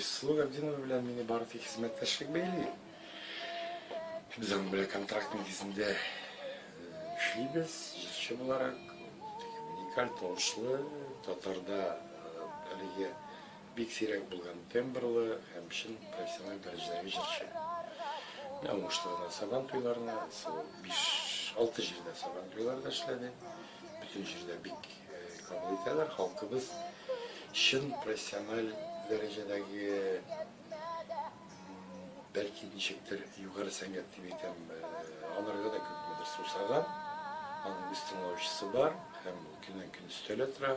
Айсылу Габдинова белән мине бары тик хезмәттәшлек бәйли. Без аның белән контракт нигезендә эшлибез, җырчы буларак. Уникаль тавышлы, татарда әлеге бик сирәк булган тембрлы һәм чын профессиональ дәрәҗәдәге җырчы. Мин уңышларына сабан туйларына, 5-6 җирдә сабан туйларда эшләде. Бүтән җирдә бик кабул итәләр, халкыбыз чын профессиональ дәрәҗәдәге бәлки ничектер югары сәнгать дип әйтәм, аларга да күпмедер сусаган, аның үз тыңлаучысы бар һәм көннән-көн өстәлә тора.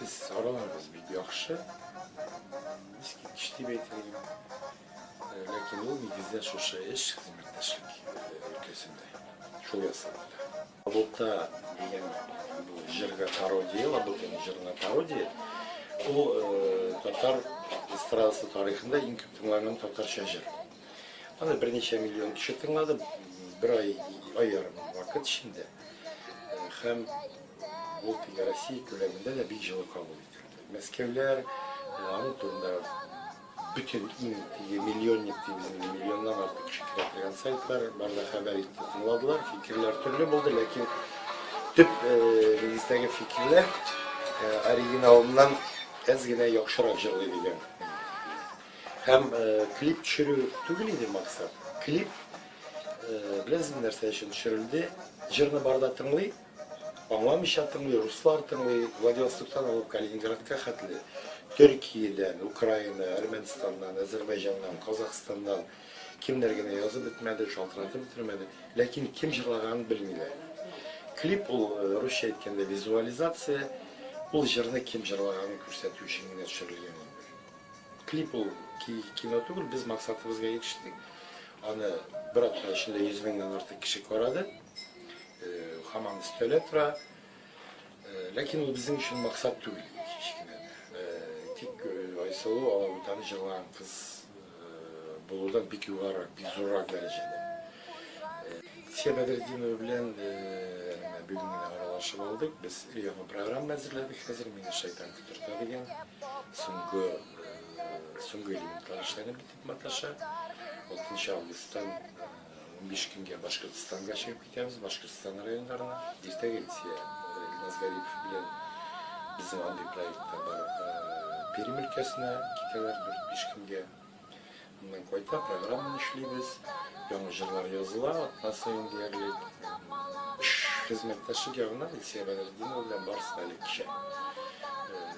Без сараларбыз бик яхшы. Искиткеч дип әйтелгән. Ләкин ул нигездә шушы эш хезмәттәшлек өлкәсендә шул ясалды. Лабута дигән бу җырга пародия, Лабутаның җырына пародия. Ул татар эстрадасы тарихында иң күп тыңланган татарча җыр. Аны берничә миллион кеше тыңлады, бер ай, ай ярым вакыт эчендә. Һәм Ул көне Россия күләмендә дә бик җылы кабул ителде. Мәскәүләр аның турында бөтен иң теге миллионник дип үзенең миллионнан артык кеше керә торган сайтлар барда хәбәр итте, тыңладылар, фикерләр төрле булды, ләкин төп нигездәге фикерләр оригиналыннан әз генә яхшырак җырлый дигән. Һәм клип төшерү түгел иде максат. Клип беләсезме нәрсә өчен төшерелде? Җырны барда тыңлый, Аңламыйча тыңлый, руслар тыңлый, Владивостоктан алып Калининградка хәтле, Төркиядән, Украина, Әрмәнстаннан, Әзербайҗаннан, Казахстаннан кемнәр генә язып бетмәде, шалтыратып бетермәде, ләкин кем җырлаганын белмиләр. Клип ул, э, русча әйткәндә, визуализация, ул җырны кем җырлаганын күрсәтү өчен генә төшерелгән инде. Клип ул кино түгел, без максатыбызга ирештек. Аны бер атна эчендә 100 меңнән артык кеше карады. Хаман өстәлә тора. Ләкин ул безнең өчен максат түгел иде, һич кенә дә. Тик Айсылу алабутаны җырлаган кыз булудан бик югарырак, бик зуррак дәрәҗәдә. Илсөя Бәдретдинова белән менә бүген генә аралашып алдык. Без өр-яңа программа әзерләдек хәзер, Мине шайтан котырта дигән. Соңгы элементлар эшләнеп бетә. маташа. 6 августтан унбиш көнгә Башкортстанга чыгып китәбез, Башкортстан районнарына. Иртәгә Илсөя Илназ Гарипов белән безнең андый проектта бар Пермь өлкәсенә китәләр дүрт-биш көнгә. Моннан кайта, программаны эшлибез, яңа җырлар языла, атна саен диярлек. Эш хезмәттәшлек ягыннан Илсөя Бәдретдинова белән барысы да элек кичә.